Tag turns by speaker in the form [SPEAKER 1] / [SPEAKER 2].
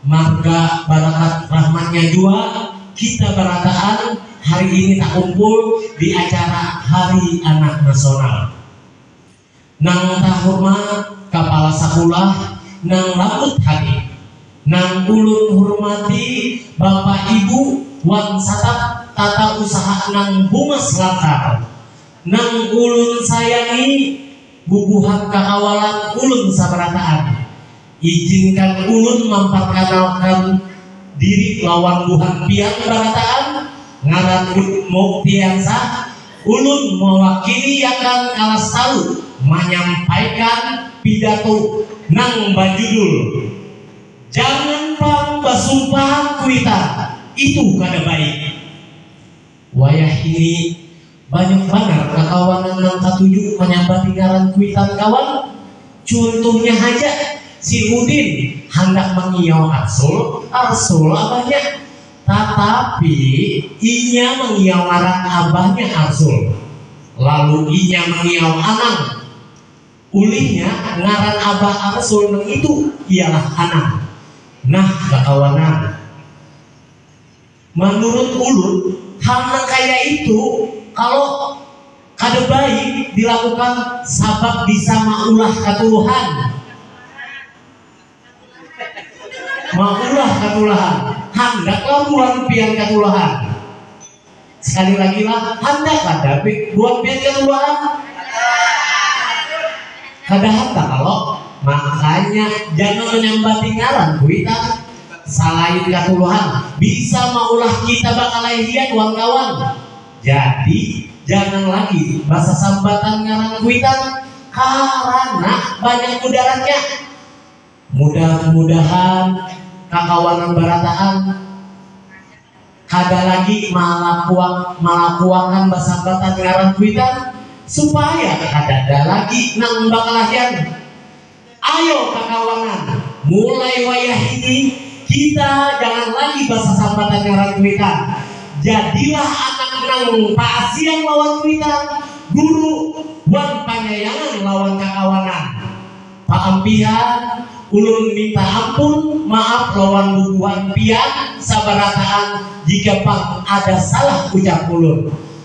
[SPEAKER 1] Marga barakat rahmatnya jua kita barataan hari ini takumpul di acara Hari Anak Nasional. Nang tahurmat Kapala Sakulah nang lambut hati, nang ulun hurmati Bapak Ibu wan satap tata usaha nang humas lancar, nang ulun sayangi bubuhan kakawalan ulun sabarataan, Ijinkan ulun mamparkanalkan diri lawan buhan pian barataan, ngaranku Muktiansa, ulun mawakiliakan kalas talu manyampaikan pidato nang bajudul Jangan pang Basumpahan Kuitan, Itu Kada Baik. Wayah hiri, banyak banar kakawanan nang katuju manyabati ngaran kuitan kawan. Cuntuhnya haja, si Udin handak mangiyau Arsul, Arsul abahnya. Tatapi, inya mangiyau ngaran abahnya Arsul. Lalu inya mangiyau Anang. Ulihnya, ngaran abah Arsul nangitu ialah Anang. Nah kakawanan. Manurut ulun, hal nang kaya itu kalo kada baik dilakukan sabab bisa maulah katuluhan. Maulah katulahan. Handaklah buhan pian katulahan. Sekali lagi lah, handak kada buhan pian katulahan? Kada handak kalo? Makanya jangan manyambati ngaran kuitan. Salain katuluhan, bisa maulah kita bakalahian wan kawan. Jadi, jangan lagi basasambatan ngaran kuitan karana banyak mudaratnya. Mudah-mudahan kakawanan barataan kada lagi malakuakan basambatan ngaran kuitan supaya kadada lagi nang bakalahian. Ayo kakawanan, mulai wayah ini kita jangan lagi basasambatan ngaran kuitan. Jadilah anak nang paasian lawan kuitan, guru, wan panyayangan lawan kakawanan. Paam pian, ulun minta ampun, maaf, lawan bubuhan pian sabarataan jika pang ada salah ucap ulun.